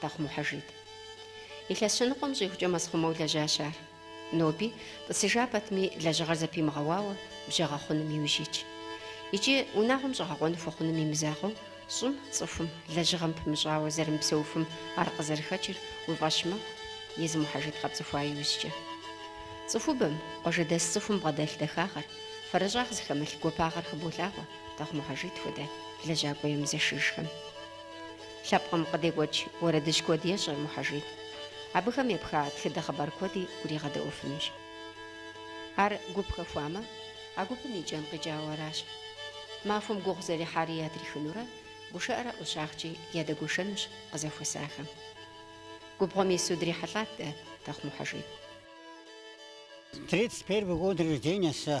Тэхъу Мухьэжид. Илъэс щэныкъуэм щӏигъукӏэ мэзхъумэу лэжьащ ар. Ноби, тӏысыжа пэтми, лэжьыгъэр зэпимыгъэуауэ, бжьэ гъэхъуным иужь итщ. Икӏи, унагъуэм щӏэгъэкъуэн хуэхъуным и мызакъуэу, щӏым, цӏыхум, лэжьыгъэм пымыщӏауэ зэрымыпсэуфым ар къызэрыхэкӏыр уи фӏэщ мэхъу, езы Мухьэжид къэпцӏыхуа иужькӏэ. Цӏыхубэм, къуажэдэс цӏыхум бгъэдэлъ дахагъэр, фэрэщӏагъ зыхэмылъ гуапагъэр хыболъагъуэ Тэхъу Мухьэжид хуэдэ лэжьакӏуэ емызэшыжхэм. Лъэпкъым къыдекӏуэкӏ уэрэдыжь куэд ещӏэ Мухьэжид. Абыхэм епха тхыдэ хъыбар куэди уригъэдэӏуэфынущ. Ар гуп хэхуамэ, а гупым и кӏэн къикӏауэ аращ. Махуэм гугъу зэрехьари ятрихынурэ, гушыӏэрэ ӏущагъкӏи ядэгуэшэнущ къызэхуэсахэм. Губгъуэм ису дрихьэлӏат дэ Тэхъу Мухьэжид. Тридцать первый год рождения сэ.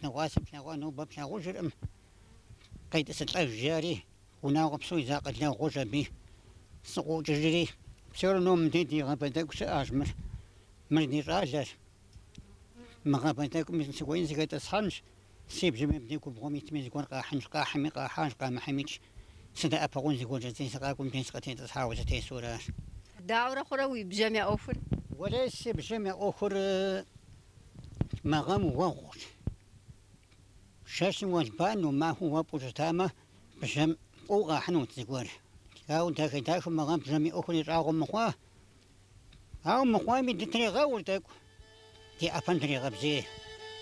Дыгъуасэ плъэгъуа нобэ плъагъужыркъым, къетӏысылӏэж, жари, унагъуэ псо иза къалэ гъуэжь аби сыкъыӏукӏыжри, псори ном мыди ди гъабэ тӏэкӏу щыӏащ, мыр, мыр ди щӏалэщ, мы гъабэ тӏэкӏум сыхуейми сыхэтӏысхьэнщ, си бжьэм мыбди губгъуэм итми зыгуэр къахьынщ, къахьми къахьащ, къамыхьмикӏ, сыдэӏэпыкъун зыгуэркӏэ жысӏи сыкъакӏуэу мыдей сыкъытетӏысхьауэ сытесу аращ. Дауэрэ хъурэ уи бжьэм я ӏуэхур? Уэлэ, си бжьэм я ӏуэхур Мы гъэм уэгъущ. Жэщым уэлбанэу, махуэм уэфӏу щытамэ, бжьэм фӏыуэ къахьынут зыгуэр. Ауэ дахэ-дахэу мы гъэм бжьэм и ӏуэхур щӏагъуэ мыхъуа? Ауэ мыхъуами, дытрегъэур тӏэкӏу, ди ӏэпэм дрегъэбзей.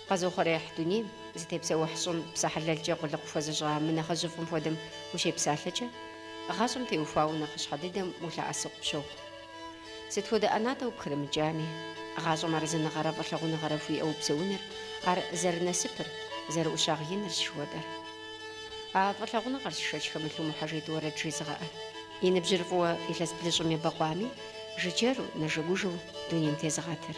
Къэзыухъуреихь дунейм, зытепсэухь щӏым псэ хьэлэлкӏэ къулыкъу хуэзыщӏа мы нэхъыжьыфӏым хуэдэм ущепсалъэкӏэ, гъащӏэм теухуауэ нэхъыщхьэ дыдэм улъэӏэсу къыпщохъу. Сыт хуэдэ ӏэнатӏэ упхрымыкӏами, гъащӏэм арэзыныгъэрэ фӏылъагъуныгъэрэ хууиӏэу упсэуныр, ар зэрынасыпыр, зэрыӏущагъ иныр щыхуэдэр. А фӏылъагъуныгъэрщ шэч хэмылъу Мухьэжид уэрэд жезыгъэӏэр. И ныбжьыр фӏыуэ илъэс блыщӏым ебэкъуами, жыджэру, нэжэгужэу дунейм тезыгъэтыр.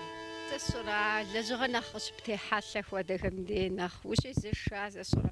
Сэ сщӏэрэ, лэжьыгъэ нэхъ къыщыптехьэлъэ хуэдэхэм дей нэхъ ущезэша, сэ сщӏэрэ?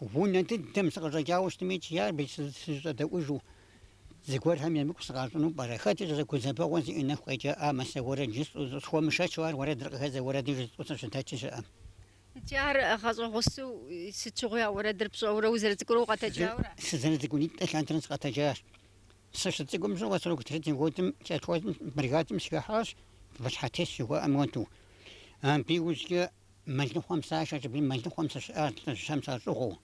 Унэ дыдэм сыкъыщӏэкӏауэ щытмэ икӏи ар абы сызыщӏэдэӏужу зыгуэрхэм емыкӏу сыкъащӏыну пӏэрэ? Хэт ищӏэрэ гузэвэгъуэ зиӏэ нэху къекӏамэ, сэ уэрэд жысӏэу, схуэмышэчу ар уэрэдыр къыхэздзэу уэрэдыр жысӏэу сыщыдэкӏи щыӏэм? Икӏи ар гъащӏэ гъусэу сыт щыгъуи а уэрэдыр пщӏэурэ узэрыцӏыкӏурэ укъэтэджаурэ? Сызэрыцӏыкӏунитӏэ лъандэрэ сыкъэтэджащ. Сыщыцӏыкӏум щыгъуэ сорок третий годым колхозым, бригадым сыхыхьащ, выщхьэтес жыхуаӏэм хуэдэу. Абы иужькӏэ Мэлыхъуэм сашэщ аби мэлыхъуэм сыщыӏащ лӏыжьхэм сащӏыгъуу.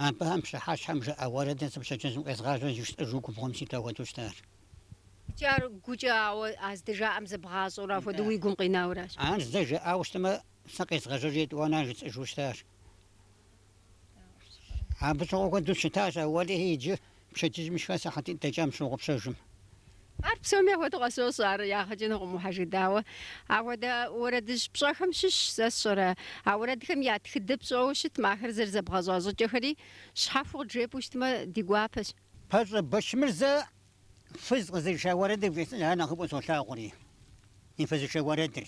Абыхэм пщыхьэщхьэм жаӏа уэрэдыр сэ пщэдджыжьым къезгъажьэу жысӏэжу губгъуэм ситу ахуэдэу щытащ. Икӏи ар гукӏэ, ауэ а здэжаӏэм зэбгъащӏэурэ ахуэдэу уи гум къинауращ. Ар зэ жаӏауэ щытмэ, сэ къезгъажьэжи етӏуанэ ар жысӏэжу щытащ. Абы щыгъуэ куэду щытащ а, уэлэхьи, иджы пщэдджыжьым сшхар сыхьэтитӏ дэкӏам сщогъупщэж. Ар псоми апхуэдэу къысфӏощӏ, ар ягъэкӏынукъым ухьэжыдауэ. Апхуэдэ уэрэдыжь пщӏэхэм щыщщ, сэ сщӏэрэ. А уэрэдхэм я тхыдэ пщӏэуэ щытмэ, ахэр зэрызэбгъэщӏа щӏыкӏэхэри щхьэхуэу къыджепӏэу щытмэ, ди гуапэщ. Пэщӏэ Бэчмырзэ фыз къызыриша уэрэдыр вжесӏэжа нэхъыфӏу солъагъури, и фызышэ уэрэдыр.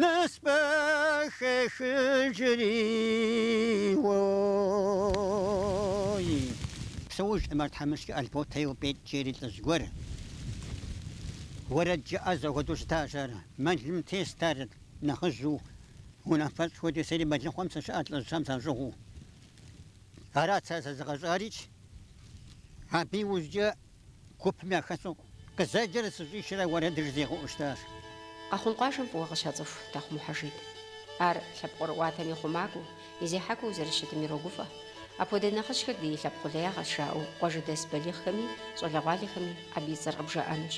Нэсбэ хехыжри, уой. Псэужкъым ар тхьэмыщкӏэ Альбот ейуэ Пӏетӏ жери лӏыжь гуэр. Уэрэджыӏэ ӏэзэ хуэдэу щытащ ар. Мэлым тест ар нэхъыжьу, унафэщӏ хуэдэ, сэри мэлыхъуэм сыщыӏэт лӏыжьхэм сащӏыгъуу. Арат сэ сэзыгъэщӏарикӏ. Абы иужькӏэ Гупым яхэсу къызэджэрэ сыщӏишэрэ уэрэд жызигъэӏэу щытащ. Къэхъун къуажэм фӏыуэ къыщацӏыху Тахъу Мухьэжид. Ар лъэпкъ ӏуэрыӏуатэм и хъумакӏуэу, и зехьакӏуэу зэрыщытым ирогуфӏэ. Апхуэдэ нэхъыжьхэр ди лъэпкъ къулеягъэщ жаӏэу къуажэдэс балигъхэми щӏалэгъуалэхэми абы и цӏэр къыбжаӏэнущ.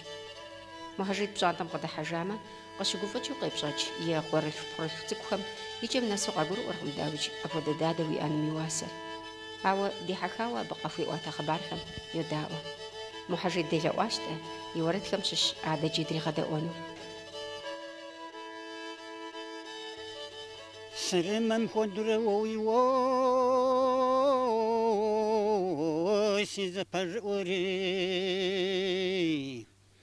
Мухьэжид пщӏантӏэм къыдыхьэжамэ, Къыщыгуфӏыкӏыу къепщӏэкӏ и къуэрылъху-пхъурылъху цӏыкӏухэм и кӏэм нэсу къагурыӏуэркъым, дауикӏ, апхуэдэ дадэ уиӏэным и уасэр. Ауэ дихьэхауэ абы къахуиӏуатэ хъыбархэм йодаӏуэ. Мухьэжид делъэӏуащ-тӏэ и уэрэдхэм щыщ адэкӏи дригъэдэӏуэну. Сырымэм хуэдэурэ уэ уи уоси зэпэжыӏури.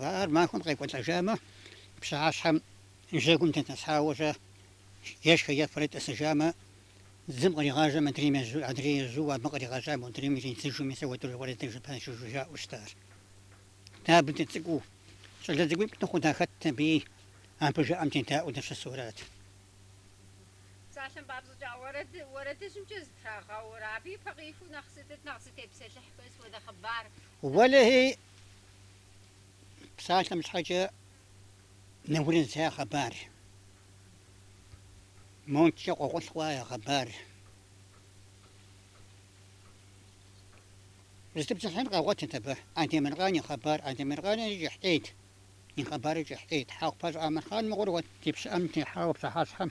Ар махуэм къекӏуэлӏэжамэ, пщыхьэщхьэм жьэгум дэтӏысхьауэ-щэ, ешхэ-ефэрэ тӏысыжамэ, зым къригъажьэм, адрейм ежьу, адрей ежьу абы къригъэжьа модрейм иридзыжу, мис апхуэдэурэ уэрэдыжь пащэжу жаӏэу щыта ар. Дэ абы дыцӏыкӏуу, щӏалэ цӏыкӏуитӏ дыхъуу дахэтт абыи, абы жаӏэм дедаӏуэу дыщысу арат. Псалъэм папщӏэкӏэ уэрэд, уэрэдыжьымкӏэ зытрагъэур, абы и пэ къихур нэхъ сытыт, нэхъ зытепсэлъыхь хуейр сыт хуэдэ хъыбар? Уэлэхьи, Псалъэм щхьэкӏэ Нэурызхэ я хъыбар, модэкӏэ къохъулӏхъуа я хъыбар. Зытепсэлъыхьын къагъуэтырт абы Адемыркъан и хъыбар. Адемыркъанри кӏыхь ӏейт, и хъыбарыр кӏыхь ӏейт. Хьэхъупащӏэ Амырхъан мыгъуэр уэ ди пщыӏэм техьауэ пщыхьэщхьэм.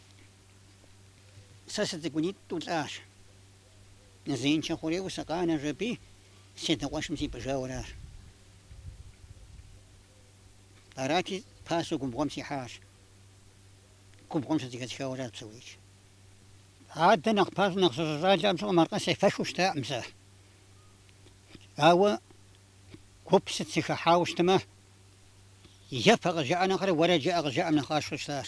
Сэ сыцӏыкӏунитӏу лӏащ. Зеиншэ хъурейуэ сыкъэнэжа абы, си адэ къуэшым сипӏыжауэ аращ. Арати, пасэу губгъуэм сихьащ. Губгъуэм щызэхэсхауэ аращ псорикӏ. Адэ нэхъ пасэм, нэхъ сыщыщӏалэхэм щыгъуэм аркъэ сефэххэу щытакъым сэ. Ауэ гуп сыт сыхыхьауэ щытмэ, ефэ къызжаӏэ нэхърэ уэрэд жыӏэ къызжаӏэм нэхъ къасщтэу щытащ.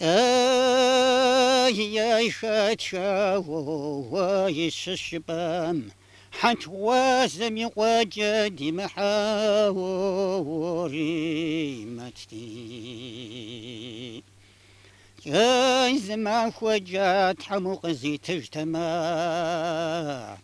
Ей, ей, хэт жагъуэ ищыщыпӏэм, Хьэтх Гъуазэм и къуэкӏэ ди Мыхьэуэримэти. Ей, зы махуэкӏэ Тхьэм укъызитыжтэмэ.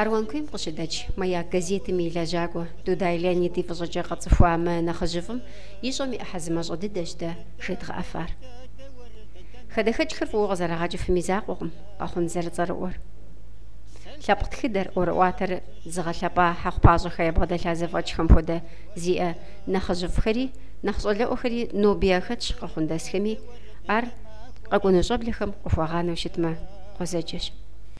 Аруан куейм къыщыдэкӏ Маяк газетым и лэжьакӏуэ Дудай Леонид и фӏыщӏэкӏэ къэтцӏыхуа мы нэхъыжьыфӏым ищӏэм и ӏыхьэ зымащӏэ дыдэщ дэ жедгъэӏэфар. Хадэхэкӏхэр фӏыуэ къызэрагъэкӏыфым и закъуэкъым Къэхъун зэрыцӏэрыӏуэр. Лъэпкъ тхыдэр, ӏуэрыӏуатэр зыгъэлъэпӏа Хьэхъупащӏэхэ ябгъэдэлъа зэфӏэкӏхэм хуэдэ зиӏэ нэхъыжьыфӏхэри, нэхъ щӏалэӏуэхэри ноби яхэтщ къэхъундэсхэми, ар къэкӏуэну щӏэблэхэм къыхуагъанэу щытмэ, гъуэзэджэщ.